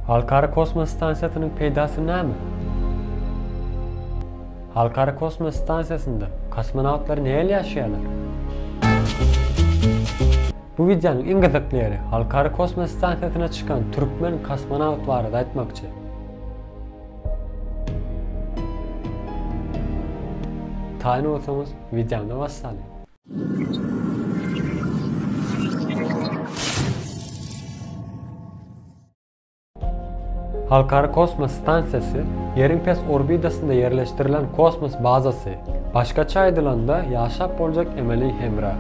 Halkara kosmos stansiýasynyň peýdasy näme? Halkara kosmos stansiýasynda kosmonawtlar nähili ýaşaýarlar? Bu wideonyň iň gyzykly ýeri, Halkara kosmos stansiýasyna çykan türkmen kosmonawt barada aýtmakçy. Taýyn bolsaňyz, wideony wassalyň. Halkara kosmos stansiýasy Ýeriň pes orbitasynda ýerleşdirilen kosmos bazasy, başgaça aýdylanda, ýaşap boljak emeli hemra.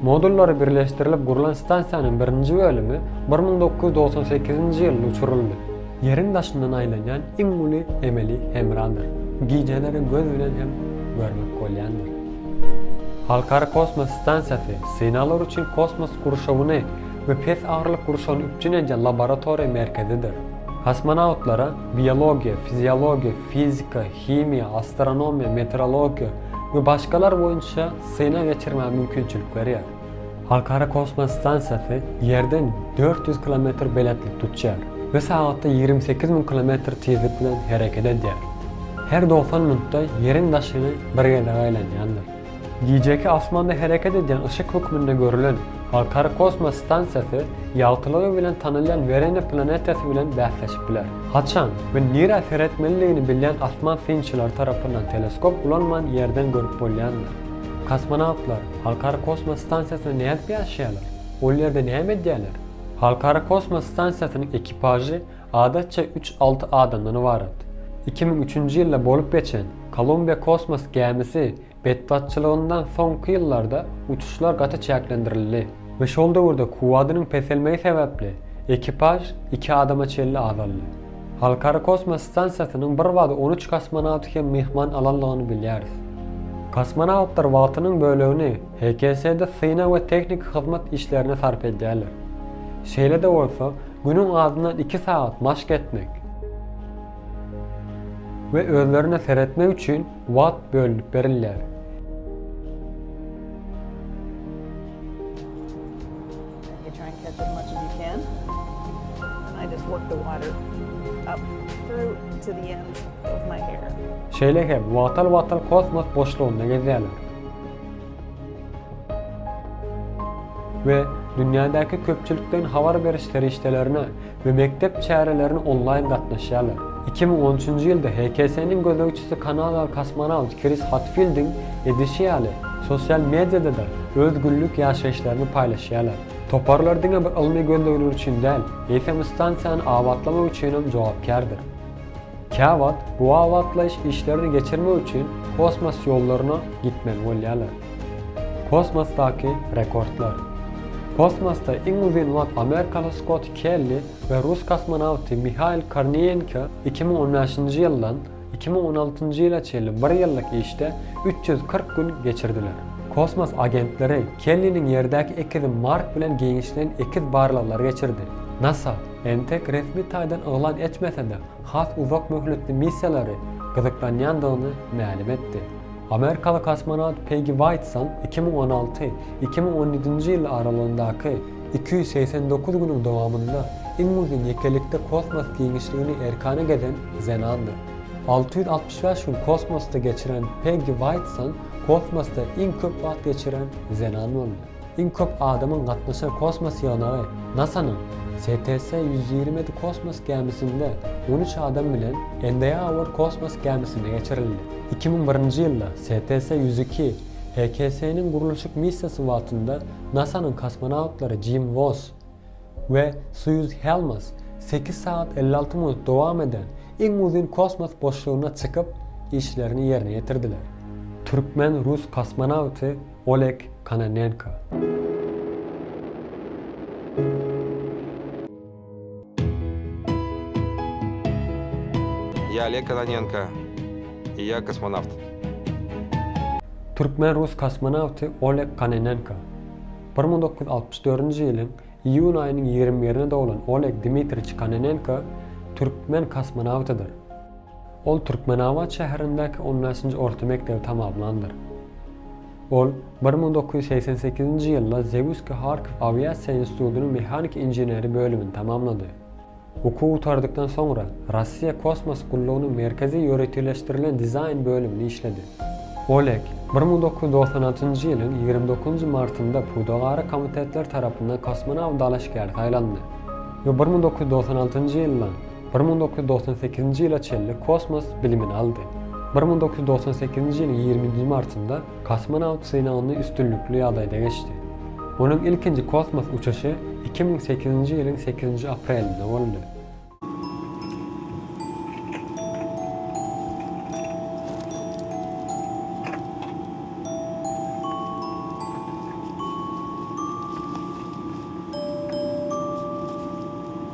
Modullary birleşdirilip gurlan stansiýanyň birinji bölümi bir müň dokuz ýüz dogsan sekizinji ýylda uçuryldy. Ýeriň daşyndan aýlanýan iň uly emeli hemradyr. Gijeleri göz bilen hem görmek bolýandyr. Halkara kosmos stansiýasy synaglar üçin kosmos gurşawyny we pes agyrlyk gurşawyny üpjün edýän laboratoriýa merkezidir. Kosmonawtlara biologiýa, fiziologiýa, fizika, himiýa, astronomiýa, meteorologiýa we başgalar boýunça synag geçirmäge mümkinçilik berýär. Halkara kosmos stansiýasy Ýerden dört ýüz kilometr belentlik tutýar we sagatda ýigrimi sekiz müň kilometr tizlik bilen hereket edýär. Her dogsan minutda Ýeriň daşyny bir gezek aýlanýandyr. Gijeki asmanda hereket edýän yşyk hökmünde görülen Halkara kosmos stansiýasy ýagtylygy bilen tanalýan Werena planetasi bilen bäsleşip biler. Haçan we nirä seretmelidigini bilýän asman synçylary tarapyndan teleskop ulanman Ýerden görüp bolýandyr. Kosmonawtlar Halkara kosmos stansiýasynda nädip ýaşaýarlar? Ol ýerde näme edýärler? Halkara kosmos stansiýasynyň ekipažy adatça üç-alty adamdan ybarat. Iki müň üçünji ýylda bolup geçen Kolumbiýa kosmos gämisi betbagtçylygyndan soňky ýyllarda uçuşlar gaty çäklendirildi we şol döwürde kuwwadynyň peselmegi sebäpli ekipaž iki adama çenli azaldy. Halkara kosmos stansiýasynyň bir bada on üç kosmonawty hem myhman alandygyny bilýäris. Kosmonawtlar wagtynyň bölegini HKS-de synag we tehniki hyzmat işlerine sarp edýärler. Şeýle-de bolsa, günüň azyndan iki sagat maşk etmek we özlerine seretmek üçin wagt bölünip berilýär. Şeýle hem wagtal-wagtal kosmos boşlugynda gezýärler we dünýädäki köpçülikden habar beriş serişdelerine we mekdep çärelerine onlaýn gatnaşýarlar. Iki müň on üçünji ýylda HKS-niň gözegçisi kanadaly kosmonawt Kris Hatfildiň edişi ýaly, sosial mediada-da öz günlük ýaşaýyşlaryny paýlaşýarlar. Toparlar diňe bir ylmy gözlegler üçin däl, eýsem stansiýany abatlamak üçinem jogapkärdir. Käwagt bu abatlaýyş işlerini geçirmek üçin kosmos ýollaryna gitmeli bolýarlar. Kosmosdaky rekordlar. Kosmosda iň uzyn wagt amerikaly Skott Kelli we rus kosmonawty Mihail Korniýenko iki müň on bäşinji ýyldan iki müň on altynjy ýyla çenli bir ýyllyk işde üç ýüz kyrk gün geçirdiler. Kosmos agentleri Kelliniň Ýerdäki ekizi Mark bilen giňişleýin ekiz barlaglary geçirdi. Nasa. Entek resmi taýdan yglan etmese-de, has uzak möhletli missiýalary gyzyklanýandygyny mälim etdi. Amerikaly kosmonawt Pegi Waýtson iki müň on alty, iki müň on ýedinji ýyl aralygyndaky iki ýüz segsen dokuz günüň dowamynda iň uzyn ýekelikde kosmos giňişligini erkana gezen zenandyr. Alty ýüz altmyş bäş gün kosmosda geçiren Pegi Waýtson kosmosda iň köp wagt geçiren zenan boldy. Iň köp adamyň gatnaşar kosmos ýygnagy NASA-nyň STS ýüz ýigrimi ýedi kosmos gämisinde on üç adam bilen Endeýawor kosmos gämisinde geçirildi. Iki müň birinji ýylda STS ýüz iki HKS-niň gurluşyk missiýasy wagtynda NASA-nyň kosmonawtlary Jim Woss we Suýuz Helmas sekiz sagat elli alty minut dowam eden iň uzyn kosmos boşlugyna çykyp, işlerini ýerine ýetirdiler. Türkmen-rus kosmonawty Oleg Kononenko. Ýa Oleg Kononenko, ýa kosmonawt. Türkmen-rus kosmonawty Oleg Kononenko. Bir müň dokuz ýüz altmyş dördünji ýylyň iýun aýynyň ýigrimi birine doglan Oleg Dmitriç Kononenko türkmen kosmonawtydyr. Ol Türkmenabat şäherindäki on bäşinji orta mekdebi tamamlandyr. Ol bir müň dokuz ýüz segsen sekizinji ýylda Zewski Harkiw awiasiýa institutynyň mehanik inženeri bölümini tamamlady. Okuw gutardykdan soňra, Russiýa kosmos gullugynyň merkezi ýöriteleşdirilen dizaýn bölümini işledi. Oleg bir müň dokuz ýüz dogsan altynjy ýylyň ýigrimi dokuzynjy martynda pudagara komitetler tarapyndan kosmonawt dalaşgäri saýlandy we bir müň dokuz ýüz dogsan altynjy ýyldan Bir müň dokuz ýüz togsan sekizinji ýyla çenli kosmos bilimini aldy. Bir müň dokuz ýüz togsan sekizinji ýylyň ýigrimi nji martynda kosmonawt synagyny üstünlikli ýagdaýda geçdi. Onuň ilkinji kosmos uçuşy iki müň sekizinji ýylyň sekizinji aprelinde boldy.